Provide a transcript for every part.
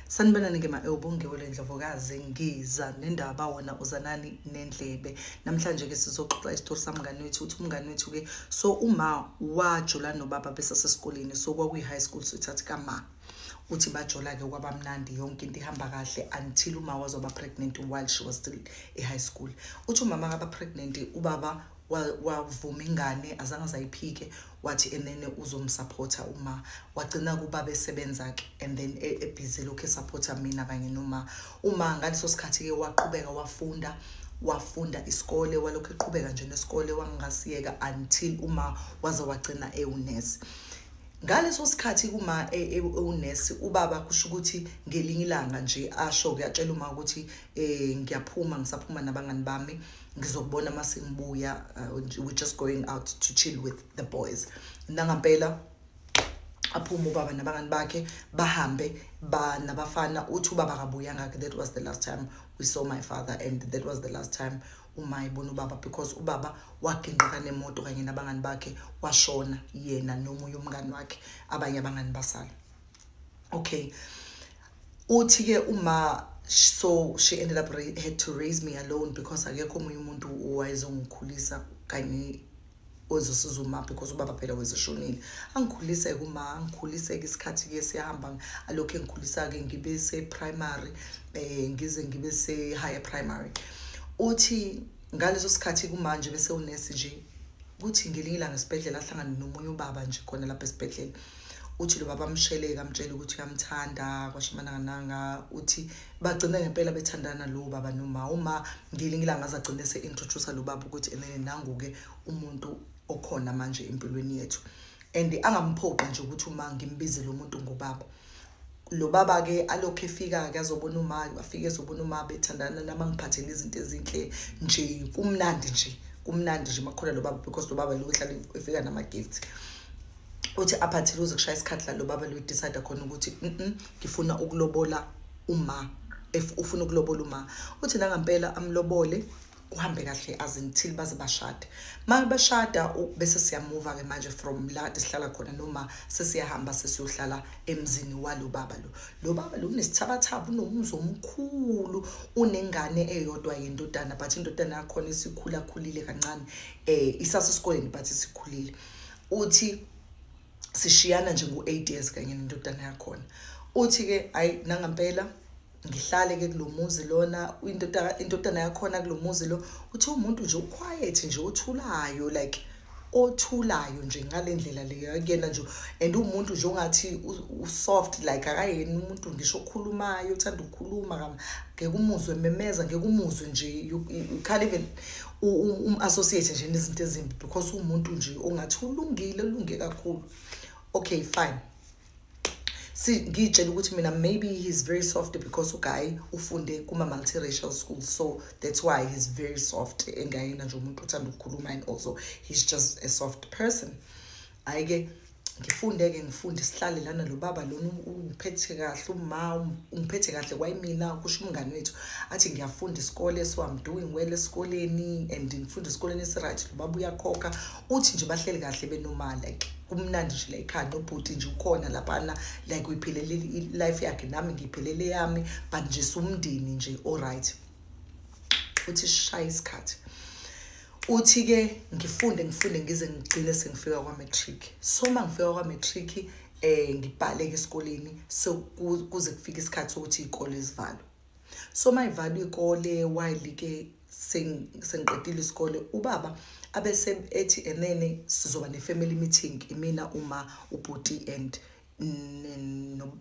sanibonani ke ma-ewubongiwe le ndlovokazi ngiza nendaba wona uzanani nendlebe namhlanje ke sizoxoxa isitori samngane wethu uthi umngane wethu-ke so uma wajula nobaba besasesikoleni so kwakuyi-high school sithathi kama uthi bajola-ke kwabamnandi yonke into ihamba kahle until uma wazoba pregnant while she was still e-high school uthi umama kaba pregnant ubaba wavuma ingane azange azayiphike wathi enene uzomsupporta uma wagcina kuba besebenza ke and then e, ebhizi lokhu esupporta mina kanye noma uma ngaleso sikhathi ke waqhubeka wafunda wafunda isikole walokhu eqhubeka nje nesikole wangasiyeka until uma waze wagcina ewunesi ngaleso sikhathi kuma e, e, ewunesi ubaba kusho ukuthi ngelinye ilanga nje asho kuyatshela uma ukuthi eh ngiyaphuma ngisaphuma nabangani bami ngizokubona uma sengibuya uh, we're just going out to chill with the boys nangampela aphume ubaba nabangani bakhe bahambe ba nabafana uthi ubaba kabuyanga ke that was the last time we saw my father and that was the last time uma ibona ubaba because ubaba waginqika nemoto kanye nabangani bakhe washona yena nomunye umngani wakhe abanye abangani basala okay uthi ke uma so she ended up had to raise me alone because akekho omunye umuntu owayezongikhulisa kanye ozosiza uma because ubaba phela wezishonile angikhulise kuma angikhulise ke isikhathi ke siyahamba alokho engikhulisa ke ngibe se primary eh ngize ngibe se higher primary uthi ngaleso sikhathi kumanje bese unesi nje kuthi ngelinye ilanga esibhedlela ahlangane nomunye ubaba nje khona lapha esibhedlela uthi lo baba amsheleke amtshele ukuthi uyamthanda kwashimanangananga uthi bagcine ngempela bethandana lo baba noma uma ngelinye ilanga azagcine se-introduce lo baba ukuthi enene nangu-ke umuntu okhona manje empilweni yethu and angamphoqi nje ukuthi uma ngimbize lo muntu ngobaba lo baba-ke alokhu efika-ke azobona umayo afike ezobona uma bethandana nami angiphathele izinto ezinhle nje kumnandi nje kumnandi nje makhona lo baba because lo baba lo ehlale efika nama-gift uthi aphathile uze kushaya isikhathi la lo baba luyidecide khona ukuthi ngifuna ukulobola uma ufuna ukulobola uma uthi nangampela amlobole kuhambe kahle as until baze bashade ma bashada bese siyamuva ke manje from la sihlala khona noma sesiyahamba sesiyohlala emzini walo baba lo lo baba lo unesithabathaba unomuzi omkhulu unengane eyodwa yendodana but indodana yakhona isikhula khulile kancane eh isase esikoleni but isikhulile uthi sishiyana nje ngo-eight years kanye nendodana yakhona uthi-ke hhayi nangampela ngihlale-ke kulo muzi lona indodana yakhona kulo muzi lo uthi umuntu nje uquiet nje othulayo like othulayo nje ngale ndlela leyo kuyena nje and umuntu nje ongathi usoft like akayena umuntu ngisho okhulumayo uthanda ukukhuluma ngeke umuzwe memeza ngeke umuzwe nje you can't even um-associate nje nezinto ezimbi because umuntu nje ongathi ulungile ulunge kakhulu okay fine si ngiyitshela ukuthi mina maybe he's very soft because uguy ufunde kuma-multiracial school so that's why he's very soft engayena nje umuntu othanda ukukhuluma and also he's just a soft person hayi ke ngifunde-ke ngifunde sihlale lana lo baba lona ungiphethe kahle uma ungiphethe kahle kwayimina kusho umngane wethu athi ngiyafunda isikole so i'm doing well esikoleni and ngifunda esikoleni esiright lo baba uyakhokha uthi nje bahleli kahle benomali like kumnandi nje la ekhaya nobhuti nje ukhona laphana like uyiphelele i-life yakhe nami ngiyiphelele yami but nje siwumndeni nje oright uthi sishaya isikhathi uthi ke ngifunde ngifunde ngize ngigcine sengifika kwa-matric so uma ngifika kwa-matric um eh, ngibhaleke esikoleni kuze kufike isikhathi sokuthi iy'kole zivalwe so uma ivalwe iy'kole wayelike sengiqedile isikole ubaba abese ethi enene sizoba ne-family meeting imina uma ubhuti and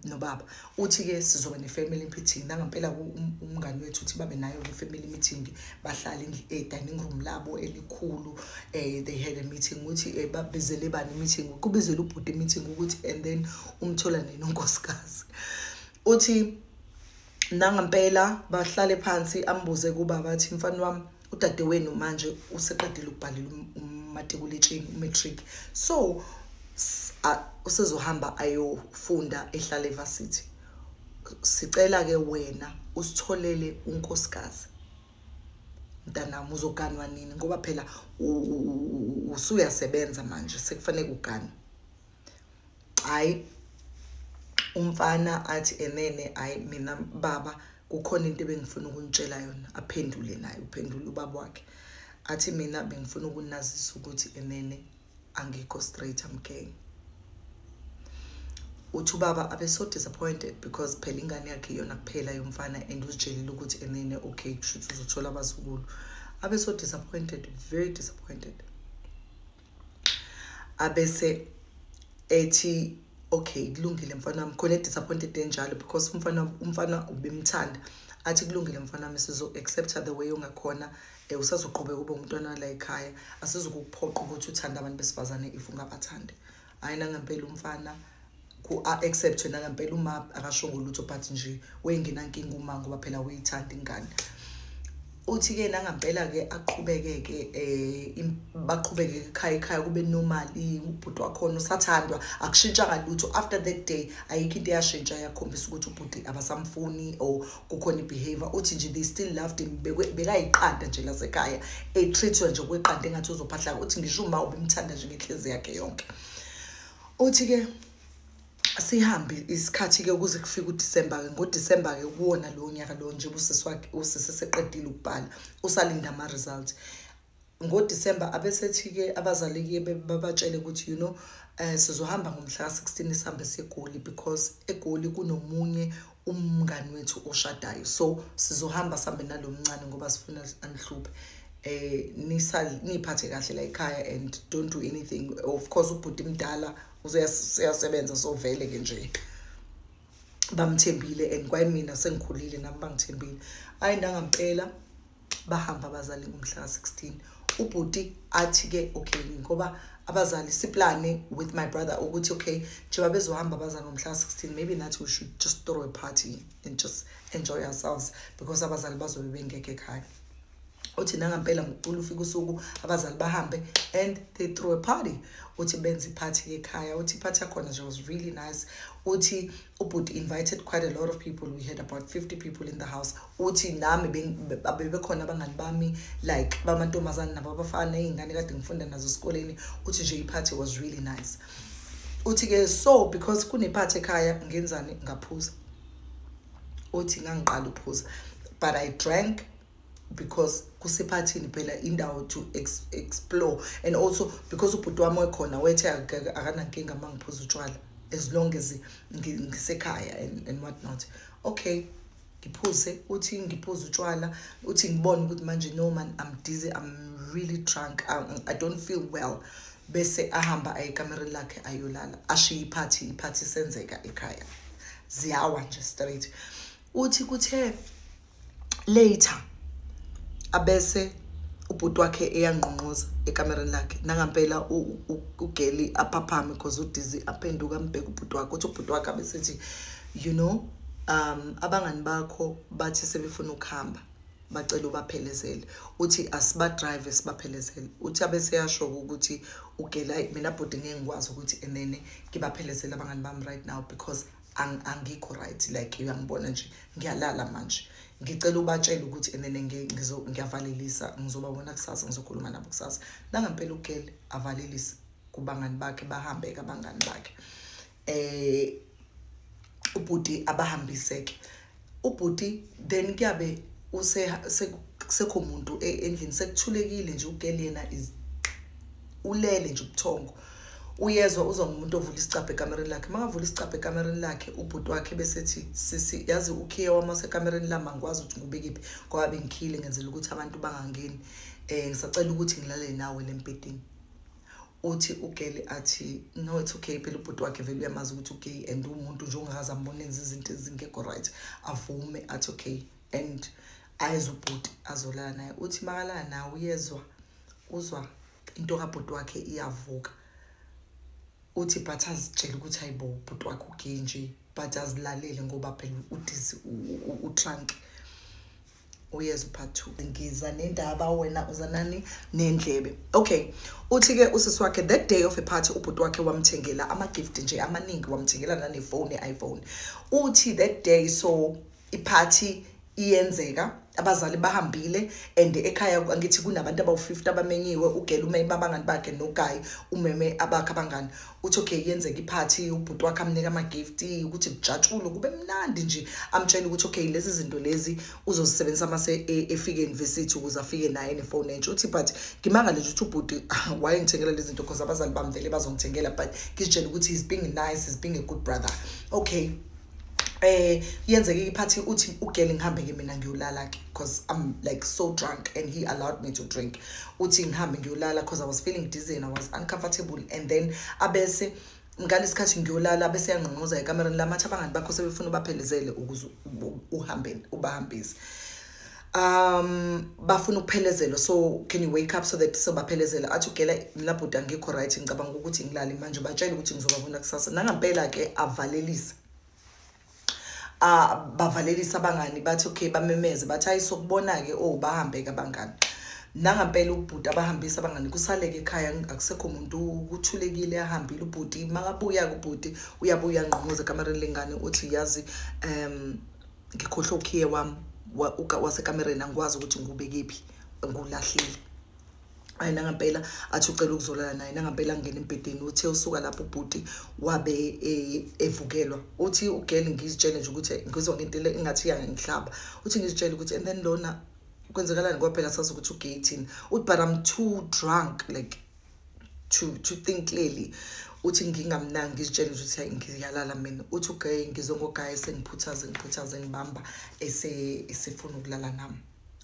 nobaba uthi-ke sizoba ne-family meeting nangampela um, umngani wethu uthi babe nayo le family meeting bahlale e-dining room labo elikhulu um they had a meeting ukuthi um babizele bani meeting kubizele ubhuti meeting ukuthi and then umthola nini unkosikazi uthi nangampela bahlale phansi ambuze kubaba athi mfana wami udadewenu manje useqedile ukubhalela um, umatikuletsheni umatric so usezohamba ayofunda ehlala evasithi sicela ke wena usitholele unkosikazi mntanami uzoganwa nini ngoba phela usuyasebenza manje sekufanele kuganwe hayi umfana athi enene hayi mina baba kukhona into ebengifuna ukunitshela yona aphendule naye uphendule ubaba wakhe athi mina bengifuna ukunazisa ukuthi enene angikho straight am gang uthi ubaba abe so disappointed because phela ingane yakhe iyona kuphela yomfana and uzitshelile ukuthi enene okay kushuthi uzothola abazukulu abe so disappointed very disappointed abese ethi okay kulungile mfana wami khona edisappointed enjalo because umfana umfana ubimthanda athi kulungile mfana wami sizo-accepta the way ongakhona um usazoqhubeka ube umntwana wala ekhaya asizokukuphoqa ukuthi uthande abantu besifazane if ungabathandi hhayi nangempela umfana um ku-accept yena ngempela uma akashongo lutho but nje wengenankinga uma ngoba phela uyithanda ingane uthi-ke nangampela-ke aqhubeke-ke um baqhubeke ekhaya ekhaya kube normali ubhuti wakhona usathandwa akushintshanga lutho after that day ayikho into eyashintsha yakhombisa ukuthi ubhuti abasamfuni or kukhona i-behavior uthi nje they still loved him bekayiqanda nje lasekhaya etreatwa nje kweqanda engathi uzophahlaka uthi ngisho uma ubimthanda nje ngenhlezi yakhe yonke uthi ke sihambe isikhathi ke ukuze kufike uDisemba ke ngoDisemba ke kuwona lo nyaka lo nje usisi wakhe usisi seqedile ukubhala usalinda ama results ngoDisemba abesethi ke abazali ke babatshele ukuthi you know eh sizohamba ngomhla ka16 sihambe segoli because egoli kunomunye umngani wethu oshadayo so sizohamba sambe nalomncane ngoba sifuna anihluphe eh nisa niphathe kahle la ekhaya and don't do anything of course ubhuti mdala uzoyasebenza so vele ke nje bamthembile and kwayimina sengikhulile nami bangithembile hayi ndangampela bahamba abazali ngomhla ka-16 ubhuti athi-ke okay ngoba abazali siplane with my brother ukuthi okay njengoba bezohamba abazali ngomhla ka-16 maybe nathi we should just throw a party and just enjoy ourselves because abazali bazobe bengekho ekhaya uthi nangampela ngokucula ufika usuku abazali bahambe and they throw a party uthi benza iphathi ekhaya uthi iphathi yakhona nje was really nice uthi ubhuti invited quite a lot of people we had about 50 people in the house uthi nami bebekhona abangani bami like bamantombazane nabo abafana iy'ngane kade ngifunda nazo esikoleni uthi nje iphathi was really nice uthi-ke so because kunephathi ekhaya ngenzani ngaphuza uthi ngangiqala ukuphuza but i drank because kusephathini phela indawo to ex explore and also because ubhuti wami wekhona wethe akanankinga uma ngiphuza utshwala as long as ngisekhaya and, and what not okay ngiphuze uthi ngiphuze utshwala uthi ngibone ukuthi manje no man i'm dizzy i'm really drunk i, um, I don't feel well bese ahamba aye ekamereni lakhe ayolala ashiye iphathi iphathi isenzeka ekhaya ziyawa nje straight uthi kuthe later abese ubhuti wakhe eyangqongqoza ekamereni lakhe nangampela ugeli aphaphame because udizi aphenduka ambheke ubhuti wakhe uthi ubhuti wakhe abesethi you know um abangani bakho bathi sebefuna ukuhamba bacela ubaphelezele uthi asibadrive sibaphelezele uthi abeseyasho-ke ukuthi ugela mina bhuti ngeke ngikwazi ukuthi enene ngibaphelezele abangani bami right now because angikho right like uyangibona nje ngiyalala manje ngicela ubatshele ukuthi and then ngiyavalelisa ngizobabona kusasa ngizokhuluma nabo kusasa nangampela ugele avalelise kubangani bakhe bahambe kabangani bakhe eh ubhuti abahambiseke ubhuti then kuyabe kusekho muntu e, endlini sekuthulekile nje ugeli yena ulele nje ubuthongo uyezwa uzwa ngomuntu ovula isicabha ekamereni lakhe uma ngavula isicabha ekamereni lakhe ubhuti wakhe besethi sisi yazi ukhiye wami wasekamereni lami angikwazi ukuthi ngubekephi ngoba bengikhiyile ngenzela ukuthi abantu bangangeni um ngisacela ukuthi ngilale nawe le mbhedini uthi ugeli athi no it's okay phela ubhuti wakhe vele uyamazi ukuthi ugay and umuntu nje ongakaze ambonenza izinto ezingekho right avume athi okay and ayeza ubhuti azolala naye uthi makalala nawe uyezwa uzwa into kabhuti wakhe iyavuka uthi but azitshele ukuthi hayibo ubhuti wakhe ugay nje but azilalele ngoba phela udisi utrunk u, u, u, uyeza upart two ngiza nendaba wena uzanani nendlebe okay uthi-ke usisi wakhe that day of a party ubhuti wakhe wamthengela ama-gift nje amaningi wamthengela nanefoni i-iphone uthi that day so iphathi iyenzeka abazali bahambile and ekhaya angithi kunabantu abawu-50 abamenyiwe ugela umeme abangani bakhe nogayi umeme abakhe abangani uthi okay yenzeka iphathi ubhuti wakhe amnika ama-gift ukuthi kujatshulwe kube mnandi nje amtshele ukuthi okay lezi zinto lezi uzozisebenzisa uma e, efike eyunivesithi ukuze afike naye nefoni entsha uthi but ngimangale nje ukuthi ubhuti wayengithengela lezi zinto because abazali bamvele bazongithengela but ngizitshele ukuthi he's being nice he's being a good brother okay eh yenzeke iphathi uthi ugeli ngihambe ke mina ngiyolala ke because i'm like so drunk and he allowed me to drink uthi ngihambe ngiyolala because i was feeling dizzy and i was uncomfortable and then abese ngalesikhathi ngiyolala bese yangqongqoza ekamereni lamathi abangani bakho sebefuna ubaphelezele ukuze uhambe ubahambise um bafuna ukuphelezelwa so can you wake up so that sobaphelezela athi ugela mla bhuti angikho right ngicabanga ukuthi ngilale manje batshele ukuthi ngizobabona kusasa nangampela ke avalelisa ah bavalelisa abangani bathi okay bamemeze bathi hayi sokubona ke oh bahambe ke abangani nangampela ubhuti abahambisa abangani kusaleke ekhaya akusekho muntu kuthulekile ahambile ubhuti makabuya kubhuti uyabuya ngqongoze kamareni lengane uthi yazi um ngikhohlwa ukhiye wami wasekamereni angikwazi ukuthi ngikubekephi ngulahlile ayi nangampela athi ucela ukuzolala naye nangampela ngena embhedeni uthe usuka lapho ubhuti wabe e, evukelwa uthi ugirl ngizitshele nje ukuthi ngizwa ngento engathi iyangihlaba uthi ngizitshele ukuthi and then lona kwenzekalani kwaphela sazi ukuthi ugay thini uthi but i'm too drunk like to to think clearly uthi ngingamnangi ngizitshela ukuthi hayi ngiyalala mina uthi ugaye ngizwe ngogaye sengiphuthaze ngiphuthaze ngibamba esefuna ukulala nami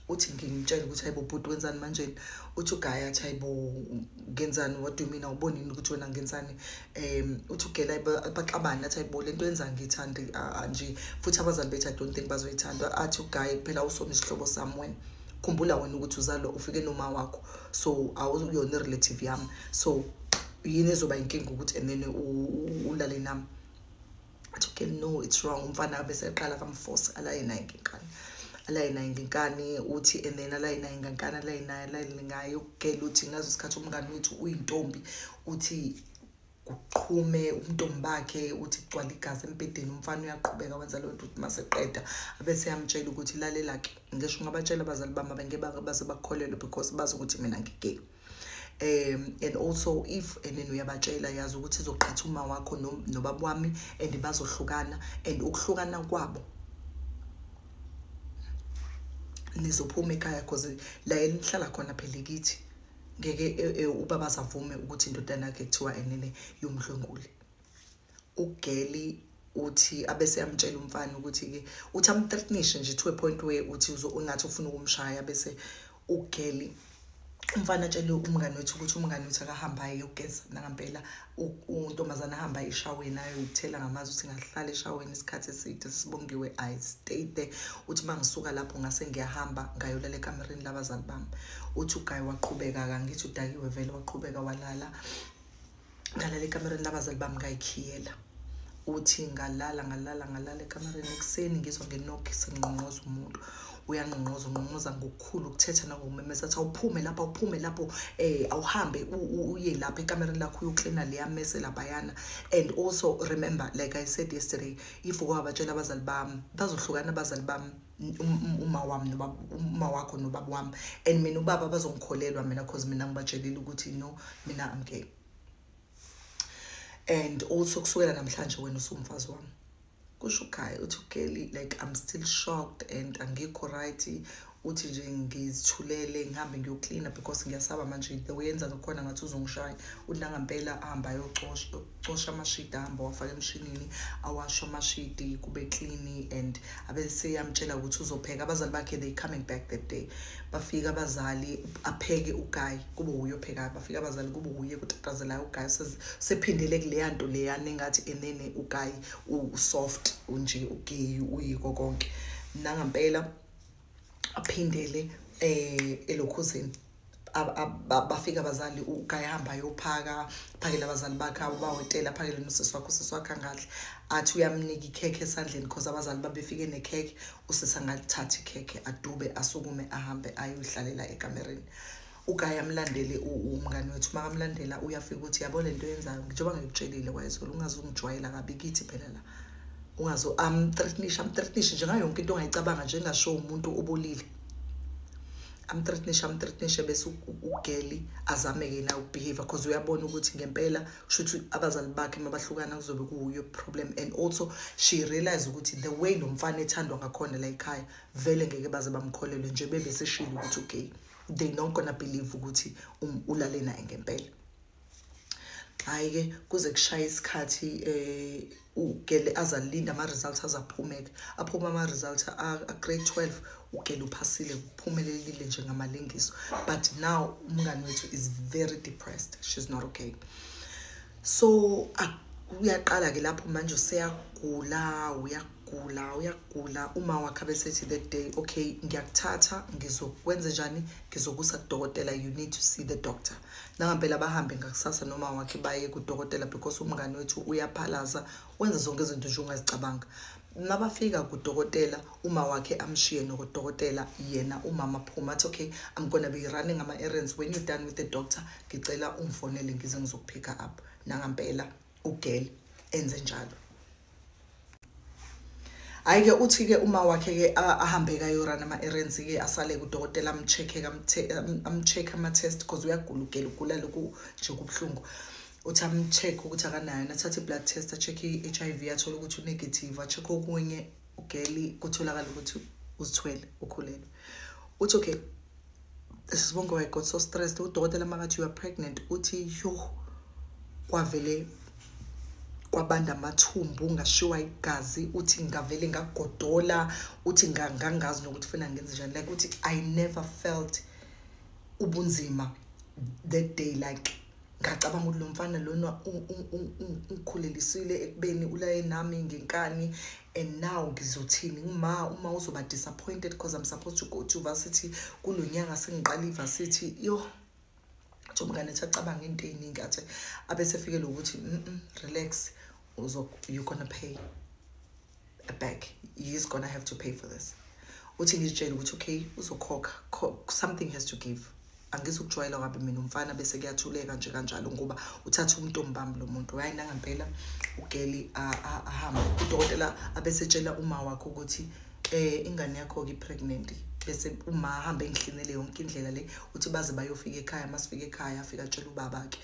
uthi ngimtshele ukuthi hayibo bhuti wenzani manjeni uthi ugaye athi hayibo ngenzani what do you mean awubonini ukuthi wena ngenzani um uthi ugela baxabane athi hayibo le nto yenza ngiyithande nje futhi abazali bethu i don't think bazoyithanda athi ugaye kuphela usona isihlobo sami wena khumbula wena ukuthi uzalwa ufike noma wakho so awuyona i-relative yami so yini ezoba inkinga ukuthi enene ulale nami athi okay no it's wrong umfana abe seqala kamforce alaye naye ngenkani alaye naye ngenkani uthi and then alaye naye ngenkani alaye naye alaye ngaye ukugela uthi ngazo isikhathi umngane wethu uyintombi uthi kuqhume umntombi bakhe uthi kugcwala igazi embhedeni umfana uyaqhubeka wenza leyo nto ukuthi uma seqeda abese yamtshela ukuthi lalela-ke ngisho ungabatshela abazali bami abengeke baze bakukholelwe because bazi ukuthi mina ngigay um and also if and then uyabatshela yazi ukuthi izoqhatha uma wakho nobaba wami and bazohlukana and ukuhlukana kwabo nizophuma ekhaya because la elihlala khona phela kithi ngeke e, e, ubaba asavume ukuthi indodana yakhe kuthiwa enene yomdlwenguli ugeli uthi abese yamtshela umfana ukuthi-ke uthi amthreatnishe nje to a point where uthi ungathi ufuna ukumshaya bese ugeli umfana atshele umngane wethu ukuthi umngane wethu akahambe aye yogeza nangampela untombazane ahamba eshaweni ayoyithela ngamazi ukuthi ngahlala eshaweni isikhathi eside sibongiwe i stay there uthi uma ngisuka lapho ngase ngiyahamba ngayolala ekamereni labazali bami uthi ugayi waqhubeka kangithi udakiwe vele waqhubeka walala ngalala ekamereni labazali bami ngayikhiyela uthi ngalala ngalala ngalala ekamareni ekuseni ngizwa ngenock sengqongqoza umuntu uyangqongqoza ungqongqoza ngokukhulu ukuthetha nangokumemeza athi awuphume lapha awuphume lapho um awuhambe uye lapha ekamereni lakho uyoklina leya mese laphayana and also remember like i said yesterday if ukawabatshela abazali bami bazohlukana abazali bami uma wami nobaba uma wakho nobaba wami and mina ubaba bazongikholelwa mina cause mina ngibatshelile ukuthi no mina i'm gay and also kusukela namhlanje wena usumfazi wami kusho ugayi uthi ugeli like i'm still shocked and angikho right uthi nje ngizithulele ngihambe ngiyoklina because ngiyasaba manje the way yenza ngakhona ngathi uzongishaya uthi nangampela ahamba ayocosha amashidi ahamba wafaka emshinini awasho amashidi kube klini and abeseyamtshela ukuthi uzopheka abazali bakhe they coming back that day bafika abazali apheke ugayi kube wuye ophekayo bafike abazali kube wuye kutatazelayo ugayi sephindele kuleya nto leya nengathi enene ugayi usoft unje ugeyi uyiko konke nangampela aphindele eh elokhuzini bafike abazali ugayi hamba yophaka phakele abazali bakhe ubawetela aphakele nosisi wakho usisi wakhe angadli athi uyamnika ikhekhe esandleni because abazali babefike nekhekhe usisi angalithathi ikhekhe adube asukume ahambe ayohlalela ekamereni ugaya amlandele umngani wethu uma kamlandela uyafika ukuthi yabo le nto yenzayo njengoba ngikutshelile wayezolo ungaze ungijwayela kabi kithi phela la ungaze amthreatnishe amthreatnishe njengayo yonke into ongayicabanga nje engasho umuntu obolile amthreatnishe amthreatnishe bese ugeli azame yena ukubehavior because uyabona ukuthi ngempela kusho ukuthi abazali bakhe uma bahlukana kuzobe kuwuyo problem and also she realize ukuthi the way lo mfana ethandwa ngakhona la ekhaya vele ngeke baze bamkholelwe nje bebeseshilo ukuthi ugay they not gonna believe ukuthi um, ulale naye ngempela hayi ke kuze kushaya isikhathi eh ugele azalinda ama results azaphumeka aphuma ama results a grade 12 ugele uphasile kuphumelelile nje ngamalengiso but now umngani wethu is very depressed she's not okay so uyaqala ke lapho manje useyagula uya gula uyagula uma wakhe abesethi the day okay ngiyakuthatha ngizokwenze njani ngizokusa kudokotela you need to see the doctor nangampela bahambe ngakusasa noma wakhe baye kudokotela because umngane wethu uyaphalaza wenza zonke izinto nje ungazicabanga nabafika kudokotela uma wakhe amshiye nokudokotela yena umama phuma athi okay i'm gonna be running ama-errands when you done with the doctor ngicela ungifonele ngize ngizokuphika up nangampela ugeli enze njalo hayi ke uthi ke uma wakhe ke ahambe kayorana ama errands ke asale kudokotela amcheck amcheck ama test because uyagula ugela ugula lokhu nje kubhlungu uthi amcheck ukuthi akanayo nathathe blood test acheck iHIV athola ukuthi unegative acheck okunye ugeli kutholakala ukuthi uzithwele ukhulelwe uthi okay sisibongo i got so stressed udokotela makathi you are pregnant uthi yo kwavele kwabanda amathumbu ngashiwa igazi uthi ngavele ngagodola uthi ngangazi nokuthi funa ngenze njani like uthi i never felt ubunzima that day like ngacabanga ukuthi lo mfana lona ungikhulelisile ekubeni ulaye nami ngenkani and now ngizothini ngima uma uzoba disappointed because i'm supposed to go to varsity kulo nyanga sengiqala ivarsity yoh nje umngane ethi acabanga into ey'ningi athe abesefikele ukuthi mm relax you're gonna pay back he's gonna have to pay for this uthi ngizitshele ukuthi okay uzokhokha something has to give angizukujwayela kabi mina umfana bese kuyathuleka nje kanjalo ngoba uthatha umntombami lo muntu hayi nangampela ugeli ahambe udokotela abesetshela uma wakho ukuthi um ingane yakho-ke i-pregnant bese uma ahambe engihlinele yonke indlela le uthi baze bayofika ekhaya uma sifika ekhaya afike atshela ubaba-ke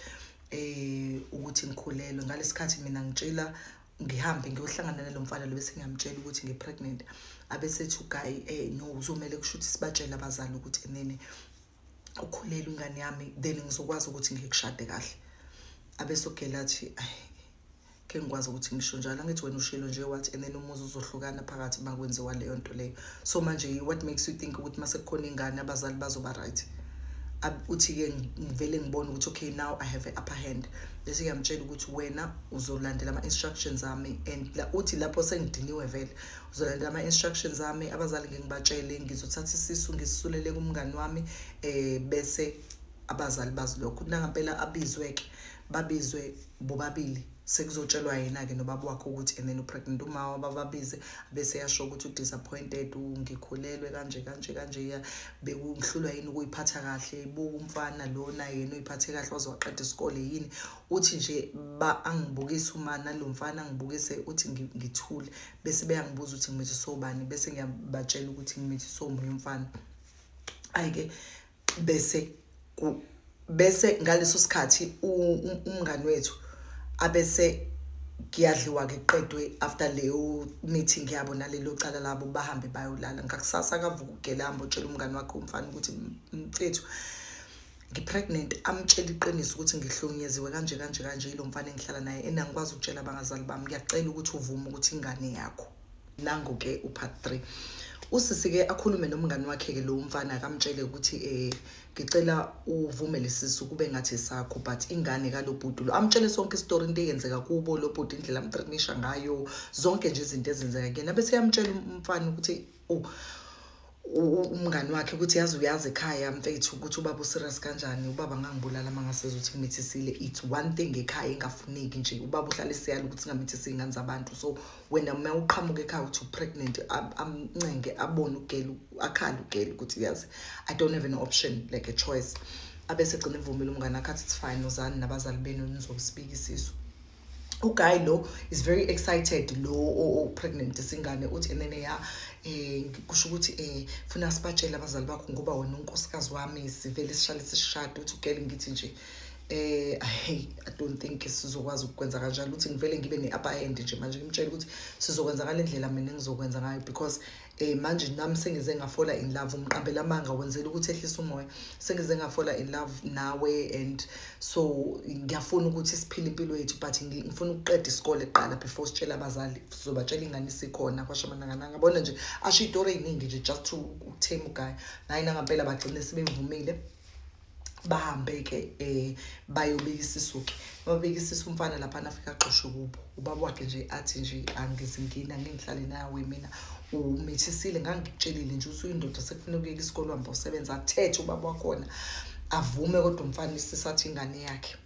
um ukuthi ngikhulelwe ngalesi khathi mina ngitshela ngihambe ngiyohlangana nalo mfana lo bese ngiyamtshela ukuthi ngipregnant abesethi ugayi um eh, no uzomele kusho ukuthi sibatshele abazali ukuthi enene ukhulelwe ingane yami then ngizokwazi ukuthi ngikushade kahle abesogela athi ke ngikwazi ukuthi ngisho njalo angithi wena ushilo nje wathi and then umuzi uzohlukana phakathi makwenziwa leyo nto leyo so manje what makes you think ukuthi mase kukhona ingane abazali bazoba right uthi ke ngivele ngibone ukuthi okay now i have a upper hand bese ngiyamtshela ukuthi wena uzolandela ama instructions ami and la uthi lapho sengidiniwe vele uzolandela ama instructions ami abazali ngingibatshele ngizothatha isisu ngisisulele kumngani wami eh bese abazali bazilokho kunangampela abizwe ke babizwe bobabili sekuzotshelwa yena-ke nobaba wakhe ukuthi and then upregnant umawa bababize bese yasho ukuthi u-disappointed ngikhulelwe kanje kanje kanje bekungihlulwa yini ukuyiphatha kahle buka umfana lona yena uyiphathe kahle waze waqeda isikole yini uthi nje ba angibukise umana lo mfana angibukise uthi ngithule bese beyangibuza ukuthi ngimithi sobani bese ngiyabatshela ukuthi ngimithi somunye umfana ayike bese bese ngaleso sikhathi umngani wethu abese kuyadliwa ke qedwe after leyo meeting yabo nalelo cala labo bahambe bayolala ngakusasa akavuka ugele hambe utshela umngani wakhe umfana ukuthi mfethu ngipregnant amtshela iqiniso ukuthi ngihlonyeziwe kanje kanje kanje yilo mfana engihlala naye enangikwazi ukutshela abangazali bami ngiyacela ukuthi uvume ukuthi ingane yakho nangu ke upart 3 usisi ke akhulume nomngani wakhe ke lo mfana akamtshele ukuthi eh ngicela uvume lesisu kube ngathi sakho but ingane kalobhuti lo amtshele sonke istory into eyenzeka kubo lobhuti indlela amtrinisha ngayo zonke nje izinto ezenzeka kuyena bese yamtshela umfana ukuthi oh umngani wakhe ukuthi yazi uyazi ekhaya mfethu ukuthi ubaba userious kanjani ubaba ngangibulala uma ngaseza ukuthi ngimithisile it's one thing ekhaya engafuneki nje ubaba uhlala eseyala ukuthi ngamithisa iy'ngane zabantu so wena uma uqhamuka ekhaya ukuthi u-pregnant amncenge abone ugele akhale ugele ukuthi yazi i don't have an option like a choice abese gcina evumile umngane akhe athi it's fine uzani nabazali benu nizosibika isisu uguy lo is very excited lo o-pregnant singane uthi enene ya eh kusho ukuthi eh funa sibatshele abazali bakho ngoba wena unkosikazi wami sivele sishale sishade uthi ugele ngithi nje eh hey i don't think sizokwazi ukwenza kanjalo uthi ngivele ngibe ne-upper end nje manje ngimtshela ukuthi sizokwenza ngale ndlela mina ngizokwenza ngayo because Eh manje nami sengize ngafola in love umqambela amanga wenzela ukuthi ehlisa umoya sengize ngafola in love nawe and so ngiyafuna ukuthi siphile impilo yethu but ngifuna ukuqeda isikole kuqala before sitshela abazali sizobatshela ingane sikhona kwashamanangana ngabona nje asho itori eyiningi nje just to thema uguy naye nangampela bagcine sebevumile bahambe-ke um eh, bayobika isisuke babika isisa umfana laphana afike agxoshe kubo ubaba wakhe nje athi nje angizingini angingihlale nawe mina umithisile ngangikutshelile nje usuyindoda sekufuna ukuyeka isikole uhamba usebenza athethe ubaba wakhona avume kodwa umfana isisathi ingane yakhe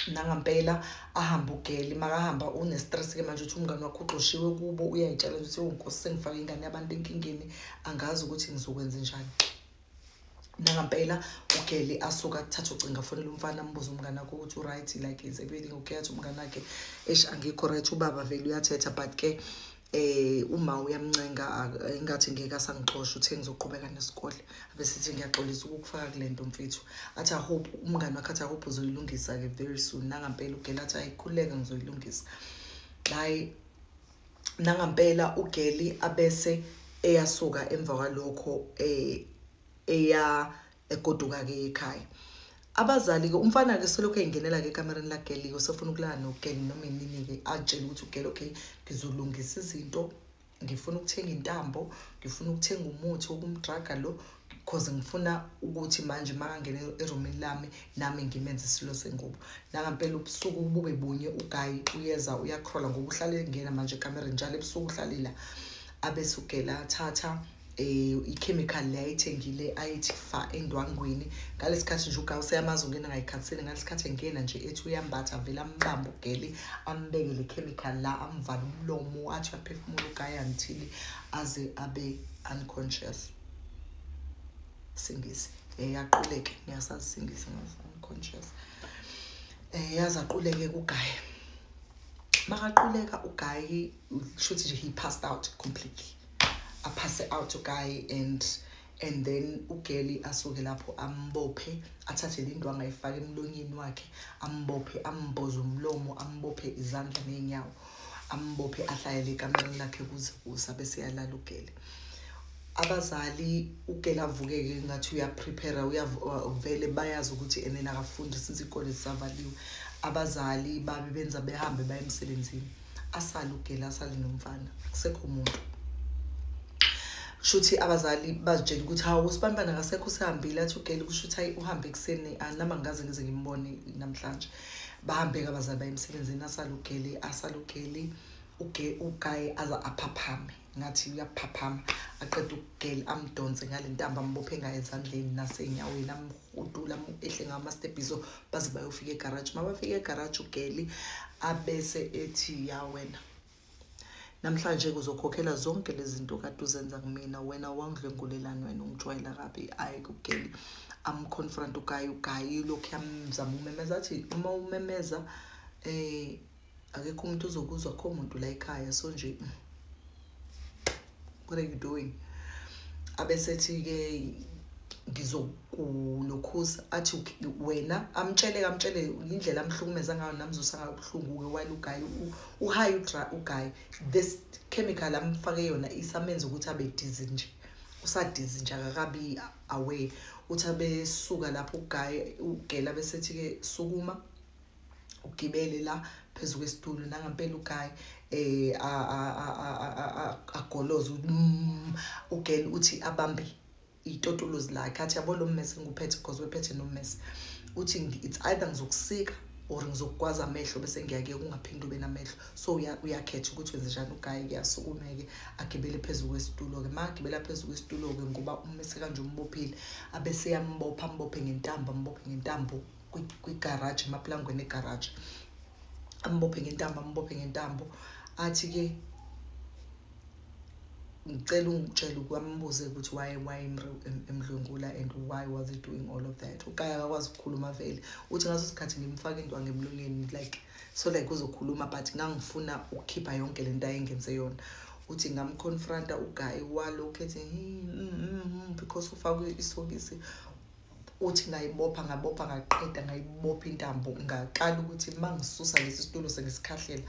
nangampela ahambe ugeli makahamba unestress-ke manje ukuthi umngane wakho ugxoshiwe kubo uyayitshela ukuthi unkosi sengifake ingane yabantu enkingeni angazi ukuthi ngizokwenza njani nangampela ugeli asuka kuthatha ucinga fonela umfana ambuze umngane akho ukuthi uright like is everything okay athi umngane akhe esh angikho right ubaba vele uyathetha but ke eh uma uyamncenga ingathi ngeke asangixosha uthe ngizoqhubeka nesikole abesithi ngiyaxolisa ukukufaka kule nto mfethu athi i hope umngane wakhe athi i hope uzoyilungisa-ke very soon nangampela ugela athi ayikhuleka ngizoyilungisa hayi nangampela ugeli abese eyasuka emva kwalokho eh eya egoduka ke ekhaya abazali ke umfana ke selokhu engenela ke kamereni la geli usefuna ukulala no geli noma inini ke atshela ukuthi ugeli okay ngizolungisa izinto ngifuna ukuthenga intambo ngifuna ukuthenga umuthi wokumdraga lo cause ngifuna ukuthi manje makangena erumini lami nami ngimenze isilo sengubo nangampela ubusuku bube bunye ugayi uyeza uyakrola ngoba uhlale engena manje ekamereni njalo ebusuku uhlalila abesugela athatha um eh, i-chemical le ayithengile ayithi fa endwangweni ngalesi khathi nje ugayi useyamazi ungena ngayikhathini ngalesi khathi engena nje ethi uyambatha vele ambambe ugeli ambeke le chemical la amvale umlomo athi uyaphefumula ugayi angithili aze abe unconscious singisi eh yaquleke ngiyasazi singisi ngazi unconscious eh yazi aquleke kugaye makaquleka ugaye shuthi nje he passed out completely a pass out ugaye and and then ugeli asuke lapho ambophe athathe le ndwangu ayifake emlonyeni wakhe ambophe amboze umlomo ambophe izandla neenyawo ambophe ahlalele ekamereni lakhe kuze kusa bese yalala ugele abazali ugele avukeke ngathi uyaprepare uyavele bayazi ukuthi enena akafundi since ikole zisavaliwe abazali babe benza behambe baye emsebenzini asale ugele asale nomfana kusekho muntu shuthi abazali bazitshela ukuthi hawu usibambana kasekho usehambile athi ugele kusho ukuthi hayi uhambe ekuseni anama ngaze ngize ngimbone namhlanje bahambeka abazali baye emsebenzini asalugeli asalugeli ugaye aza aphaphame ngathi uyaphaphama aqeda ukugeli amdonse ngale ntambo ambophe ngayo ezandleni nasenyaweni amhudula ehle ngawo amastebhiso baze bayofika egaraji uma bafika egaraji ugeli abese ethi ya wena namhlanje kuzokhokhela zonke lezi zinto kade uzenza kumina wena wangidlwengulelani wena ungijwayela kabi ayi kugeli amconfront ugayi ugayi lokhu yamzama umemeza athi uma umemeza um eh, akekho umuntu uzokuzwa kho muntu la ekhaya so nje mm. what are you doing abesethi-ke ngizokulokhuza athi wena amtshele kamtshele indlela amhlukumeza ngayo namzusa ngayo ubuhlungu-ke while ugayi uhayi ugayi this chemical amfake yona isamenza ukuthi abe dizi nje usadizi nje akakabi aware uthi abesuka lapho ugayi ugela besethi-ke sukuma ugibele la phezu kwesitulo nangampela ugayi eh agoloza mm, ugel uthi abambe itotolozi lakhe athi yabo lo mmese ngikuphethe because wephethe nommese uthi it's either ngizokusika or ngizokukwazi amehlo bese ngiyake kungaphinde ube namehlo so uyakhetha ukuthi wenze njani ugaye kuyasukumeke agibele phezu kwesitulo-ke ma agibela phezu kwesitulo-ke ngoba umese kanje umbophile abese yambopha ambophe ngentambo ambophe ngentambo kwigaraji emapulangweni egaraji ambophe ngentambo ambophe ngentambo athi-ke ngicela ungitshele ukwambuze ukuthi why why emdlwengula and why was he doing all of that ukaya akakwazi ukukhuluma vele uthi ngaso sikhathi ngimfake into angemlonyeni like so like uzokhuluma but ngangifuna ukukhipha yonke le nto ayengenze yona uthi ngamconfronta ugayi walokhu ethi mm, mm, mm, because ufakwe isokisi uthi ngayibopha ngabopha ngaqeda ngayibopha intambo ngaqala ukuthi uma ngisusa lesi situlo sengisikhahlela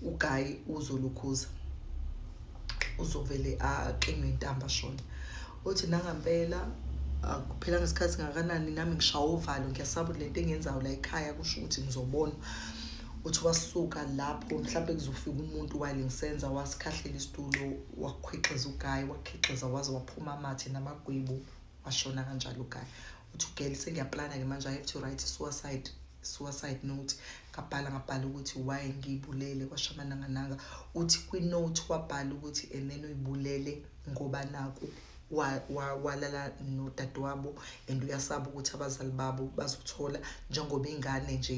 ugayi uzolukhuza uzovele aqinwe intambo ashona uthi nangampela akuphelanga isikhathi ngakanani nami ngishaya uvalo ngiyasaba ukuthi lento engenzayo la ekhaya kusho ukuthi ngizobona uthi wasuka lapho mhlawumbe kuzofika umuntu wale ngisenza wasikhahlela isitulo wakhwixeza ugayi wakhixeza waze waphuma amathe namagwebu washona kanjalo uguy uthi ugirl sengiyaplana-ke manje i have to write suicide suicide note ngabhala ngabhala ukuthi why ngiyibulele kwashamanangananga uthi kwi-note wabhala ukuthi and then uyibulele ngoba naku walala nodadewabo and uyasaba ukuthi abazali babo bazothola njengoba ingane nje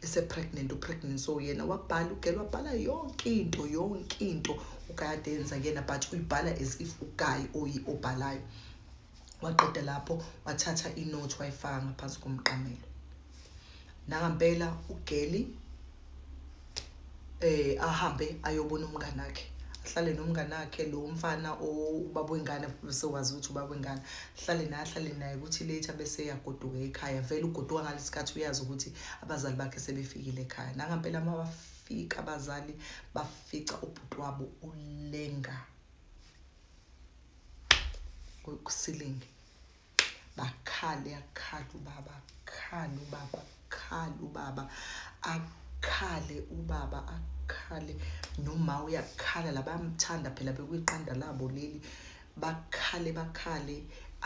ise-pregnant upregnant so yena wabhala ugela wabhala yonke into yonke into ukayadenza kuyena but uyibhala as if ugayi oyi obhalayo waqeda lapho wathatha inothi wayifaka ngaphansi komqamelo nangampela ugeli eh ahambe ayobona umngane wakhe ahlale nomngane wakhe lo mfana ubaba wengane besewazi ukuthi ubaba wengane ahlale naye ahlale naye ukuthi later bese yagoduka ekhaya vele ugoduka ngalesikhathi uyazi ukuthi abazali bakhe sebefikile ekhaya nangampela mabafika abazali fica ubhuti wabo ulenga kusilingi bakhale akhala ubaba akhale ubaba akhale ubaba akhale ubaba akhale noma uyakhala labayamthanda phela bekuyiqanda labo leli bakhale bakhale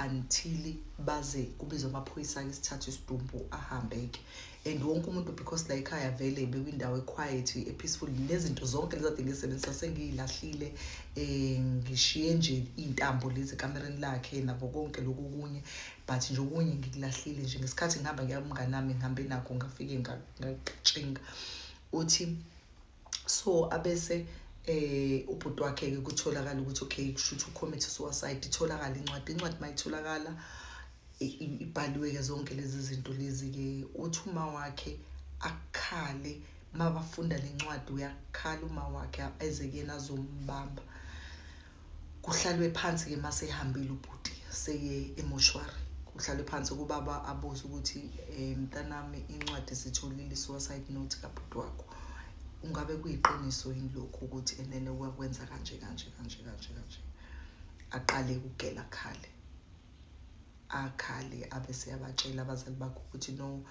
until baze kubizwa amaphoyisa-ke isithathu isidumbu ahambe-ke and wonke umuntu because la ekhaya vele bekwindawo equiet epeaceful nezinto zonke lezade ngisebenzisa sengiyilahlile um ngishiye nje iy'ntambo lezi ekamereni lakhe nabo konke loku kunye but nje okunye ngikulahlile nje ngesikhathi ngihamba ngiyamnganami ngihambe nakho ngafike ngatshinga uthi so abese eh ubhuti wakhe ke kutholakala ukuthi okay kushuthi ucommit suicide itholakala incwadi incwadi mayitholakala ibhaliwe ke zonke lezi zinto lezi ke uthi uma wakhe akhale mabafunda lencwadi uyakhala uma wakhe eze kuyena azombamba kuhlalwe phansi ke mase ehambile ubhuti seye emoshwari kuhlalwe phansi kubaba abuze ukuthi eh, mntanami incwadi sitholile suicide note kabhuti wakho ungabe kuyiqiniso yini lokhu ukuthi enene wakwenza kanje kanje kanje kanje kanje aqale ukugela khale akhale abese yabatshela abazali bakho ukuthi no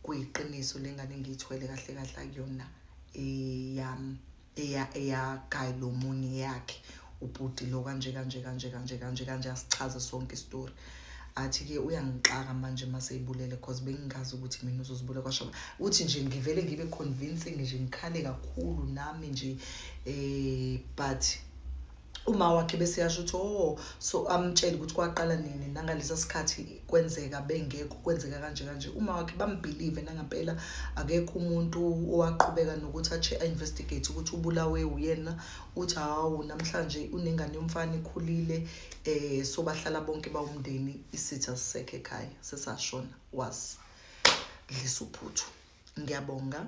kuyiqiniso lengane ngiyithwele kahle kahle akuyona eyami eh, eya eya guy lo munye yakhe ubhuti lo kanje kanje kanje kanje kanje kanje asichaze sonke isitori athi-ke uyangixaka manje uma seyibulele because bengingazi ukuthi mina uzozibulele kwashoba uthi nje ngivele ngibe convincing nje ngikhale kakhulu nami nje um but uma wakhe bese yasho ukuthi oh so amtshele ukuthi kwaqala nini nangalesa sikhathi kwenzeka bengekho kwenzeka kanje kanje uma wakhe bambelieve nangampela akekho umuntu owaqhubeka nokuthi ache investigate ukuthi ubulawe uyena uthi hawu namhlanje unengane yomfana ikhulile eh so bahlala bonke bawumndeni isitha sisekhe ekhaya sesashona was dlisa uphuthu ngiyabonga